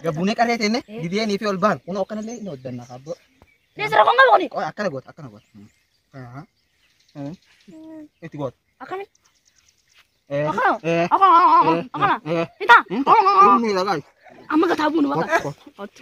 Gabbuunee qarree teenne dideenii fi ol bahan kun akkanallee ni hojjanna abboo. Deesira kun qabu kuni. Qoy akkana goota akkana goota. Aha. Eh. Itti goota. Akkami? Eh. Akkana. Eh. Akkana. Akkana. Akkana. Eh. Hita. Hmm? Akkana. Inni lagaa. Amma gataa buunu bakka. Kottu.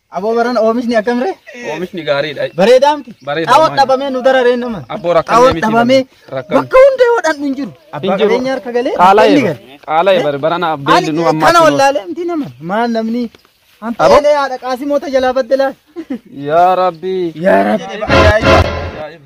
Aboo barana oomishni akkam ree? Oomishni gaariidha. Bareedaa miti? Bareeda, Xaawoo maali? dhabamee nu dararee nama. Abboo rakkanne Xaawoo miti dhabamee namni. Rakkanne. bakka hunda yoo dhandhu hin jiru. Abbaa Hin jiru. qabeenya harka galee Qaala'e inni bara. gale. Qaala'e bara. Barana Ani abdeelli nu ammaa kana kunoo. wallaalee miti nama. Maal namni hanta Aboo? elee haadha qaasimoota jalaa baddelaa. Yaa Rabbii. Yaa Rabbi. Ajaa'iba. Ajaa'iba.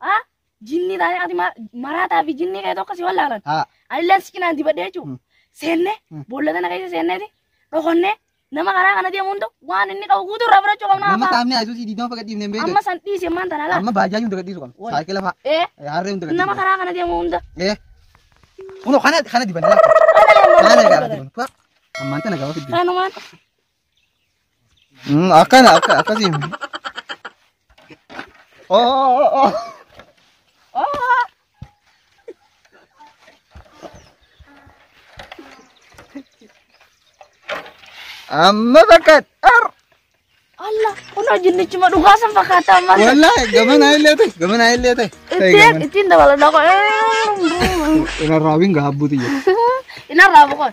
A. Jinnii taatee ati ma- maraataa fi jinnii kee tokko si wallaalan. A. Anilleen si cinaan dibadhee jechuun Mm. seennee Mm. boolla tana keessa seenneeti dhokannee nama karaa kana deemu hunda waan inni qabu guutuu irraa fudhachuu qabna Amma abbaa. qaamni ayisuusii diidama faga dhiibnee hin beekne. Amma san dhiisi ammaan tana laata. Amma baajaaji hunda gadhiisu qabna. Wal. Saayikila fa'a. Ee Harree hunda nama gadhiisu. karaa kana deemu hunda. Ee. Kunoo kana kana dibanne laata. Kana Haala deemu gaafate hunda. kun. Ammaan tana gaafate dibanne. Kanumaan Mm, Akkana akka akkasii. Oh, oh, oh, oh. Amma bakka dhar. Allah kunoo jinnichuma dhugaa san fakkaata amma. Wallahi gamana illee ta'e gamana illee ta'e. Ittiin ittiin dabaladha qoy. Irra raawwiin gaabbuuti jedhu. Inarraa boqoon.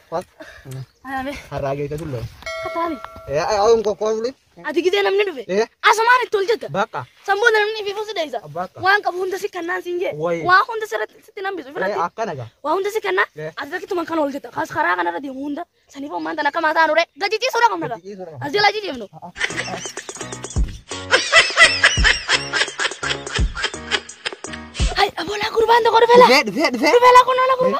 Kwan. Anabe. Harraa geete tullee. Kataami. Aawun kokkoo wuli. Ati gidee namni dhufe. Eh. Asumaan itti ol jetta. Bakka. Samboota namni fi fuusi dheessa. Bakka. Waan qabu hunda si kannaan siin jee. Wayi. Waan hunda sirratti sitti nambisu Eh, firatti. Akkana gaa. Waa hunda si kannaa. Eh. Ati rakkatu man kana ol jetta. Kaas karaa kanarra deemu hunda. Saniif ammaan tan akka maataa nuree. Gadi ciisuudha qabna gaa. Ciisuu dha. As jalaa jijjiimnu. Hai, abola kurban to korbela. Dhufee dhufee dhufee. Korbela kun ola kurba.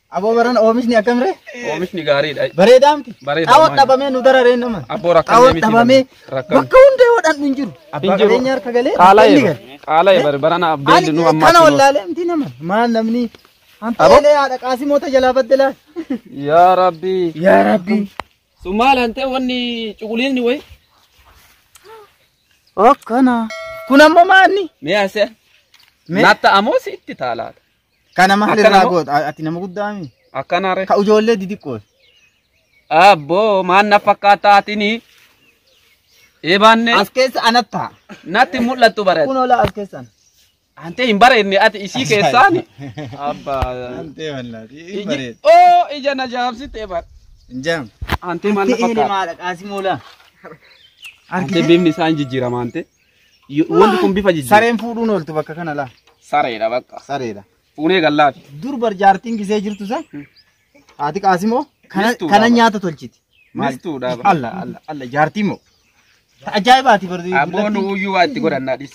Aboo barana oomishni akkamire? Oomishni gaariidha. Bareedaa miti? Bareeda, Xaawoo maali? dhabamee nu dararee nama. Abboo rakkanne Xaawoo miti dhabamee namni. Rakkanne. bakka hunda yoo dhan hin jiru. Abbaa Hin jiru. qabeenya harka galee Qaala'e inni bara. gale. Qaala'e bara. Barana abbeelli nu Ani ammaa kana kunoo. wallaalee miti nama. Maal namni hanta Aboo? elee haadha qaasimoota jalaa baddelaa. Yaa Rabbii. Yaa Rabbii. Sun maal hantee wanni cuquliisni wayi? Akkana. Kun ammoo maanni? Mee asee. Mee? Natta amoo si itti taalaata. Kana maal Akkana irraa moo? goota? Ati nama guddaa mi? Akkana re. Ka ijoollee didiqqoo. Abboo maan na fakkaataa atini. Eebaanne As keessa anat ta'a. natti mul'attu bareeda. Kun olaa as keessan. Antee hin bareedne ati isii keessaani. Abbaa. Antee wallaati. Hin bareedu. Iji- Oo ija na jaamsite eebaan. Hin jaamu. Antee maal na Antee fakkaata? maadha qaasimoolaa. Antee bifni isaa hin jijjiirama antee. Wanti kun bifa jijjiirra. Sareen fuudhuun ooltu bakka kana laa. Sareedha bakka. Sareedha. Fuunee gallaafi. Dur barjaartiin gisee jirtu san haati qaasimoo kana Mistuudha kana bara. nyaata tolchiti. Maal? Mistuudha bara. Alla alla alla jaartii moo. Ta ajaa'ibaati barri. Abboon uyyuu waa itti godhannaa dhis.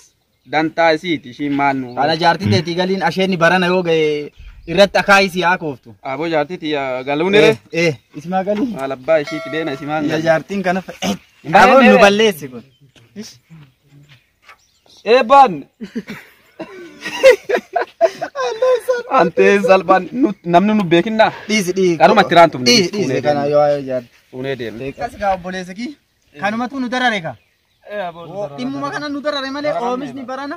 Dantaa isiiti ishiin maal nu. Kana jaartii teetii galiin asheenni barana yoo ga'e irratti akaayii si haa kooftu. Aboo jaartii tiyya galuun Eh, irra. eh, isimaa galii. Maal abbaa ishiiti deena isimaan Ya jaartiin kana fa'e. Aboo nu balleessi kun. Eebbaan. Anteen salphaan nu- namni nu beekinnaa. Dhiisi dhiisi. Kanuma itti raantu. Dhiisi dhiisi kana yoo waa'ee jaadhu. Fuunee deemne. Akkas gaa obboleessa kii. Kanumatu nu darare gaa. Dhimmuma kana nu darare malee oomishni barana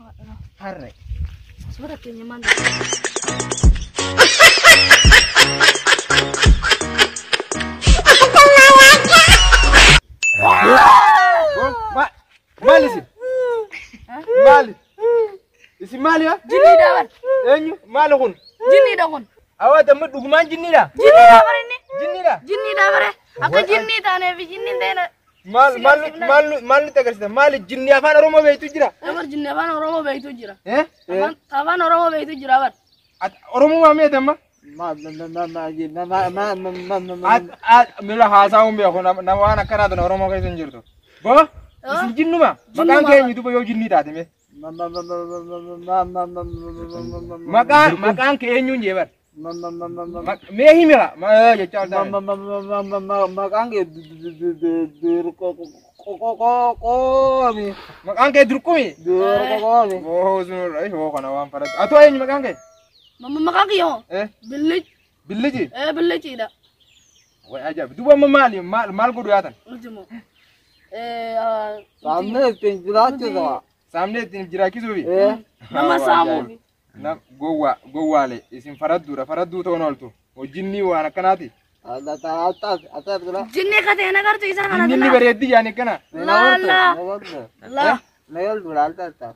Harre. Suura keenya maal Maal isin? Maali? Isin maali yaa? Jinniidha bar. Eenyu? Maali kun? Jinniidha kun. Awaa damma dhugumaan jinniidha? Jinniidha bar inni. Jinniidha? Jinniidha bare. Akka jinnii taaneef jinnii ta'e Maal Si maal garsiifna. maal maal nutti agarsiisa? Maal jinni afaan Oromoo beektu jira? Dabar jinni afaan Oromoo beektu jira. Eh? Afaan- Afaan Oromoo beektu jira bar. At- Oromoo maa meeta amma? At- at- Mila haasa'uun beeku nama nama waan akkanaa tana Oromoo keessa hin jirtu. Boo isin jinnuma maqaan Jinnuma. keenya duba yoo jinnii taate mee. Maqaa maqaan kee eenyuun jee bar. Mee himi haa ma jechaa oltaa. Maqaan kee dirqoqoomi. Maqaan kee durqumi. Dirqoqoomi. Oo sun irra ishoo kana waan faradha. Atoo eenyu maqaan kee? Mama maqaa kiyya hoo? Eh? Billic. Billiji. Ee billiciidha. Way ajaa'iba. Duba amma maali maal maal godhu yaatan? Ultimo. Ee ah, Saamnee ittiin jiraachuu ta'a. Saamnee ittiin jiraachisuufi. Ee. nama saamuufi. Nam gowwaa gowwaalee isin faradduudha faradduu ta'uun ooltu. Hojjinni waan akkanaati. Adda ta'a attaas attaas jira. Jinni katee nagartu isaa kana Inni inni tana. bareeddi yaani akkana. Laala. Laala. Meeldu laalta attaas.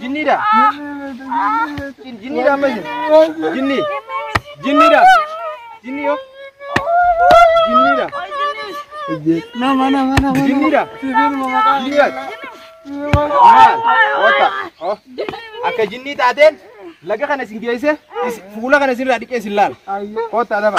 Jinniidha. Jinniidha amma isin. Jinni. Jinniidha. Jinni yoo. Jinniidha. Nama nama nama. Jinniidha. Jinniidha. Maal? Oota. Oh. Akka jinnii taateen laga kana isin geesse is- fuula kana isinirraa dhiqee isin laala. Oota adaba.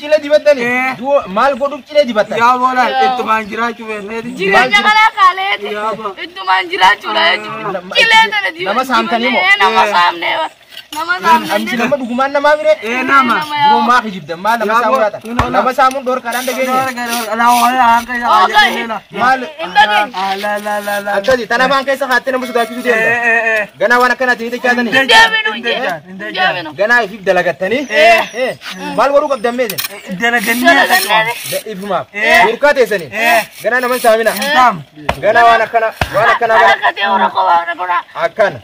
Cilee dibattani? Du'oo maal godhuuf cilee dibattan? Yaa boola ittumaan jiraachuu beekneeti. Jireenya kanaa kaaleeti. Ittumaan jiraachuudha jechuudha. Cilee tana diba- Nama saamtanii moo? dibannee nama saamnee bara. Nama Amichi saamnee. nama dhugumaan namaa mire? Ee nama. Duroo maa kijibdan maa nama Yaa saamuu boo, laata? kun ola. Nama saamuun dhorkaadhaan dhageenya. Maal Hin dhageenye. akkasi tan afaan keessa kaattee nama sodaachisuu deemta. Ganaa waan akkanaatiin hin dechaatanii. Deebinu hin jedhu. Ganaa ifiif dalagattanii maal godhuu qabdan mee isin? Dalagannee akka cufamu. Da- Ifumaaf. Burqaa teessanii. Ganaa nama hin saamina. Ganaa waan akkana waan akkanaa kana akkana.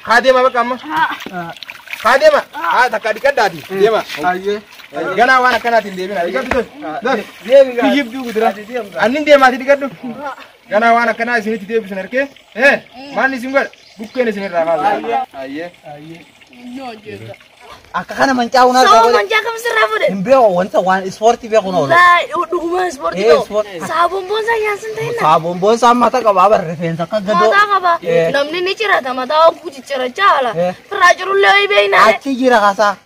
Haa deema bakka amma. Haa deema. Haa takka dhiqaddaati. Deema. Ganaa waan akkanaatiin deemina. Dhiqadhu tos. Tos. Kiyyibduu gudura. Annin deemaati dhiqadhu. Ganaa waan akkanaa isinitti deebisan harkee. Ee maanni isin godha? Bukkeen isin irraa kaasa. Ayyee. Akka kana mancaa'uun harkaa Sababa godhe. manjaa kam sirraa fuudhe? Hin beeku wanta waan ispoortii beekuun oolu. Laa dhuguma ispoortii Ee, ta'u. ispoortii. Saabuun boonsaa yaansin ta'inna. Saabuun boonsaa mata qaba bar rifeensa akka gadoo. Mataa qaba. Ee. Namni ni cirata mataa hogguu ciccirachaa haala. Ee. Firraa cirullee ho'i beeknaa. Achi jira kasaa.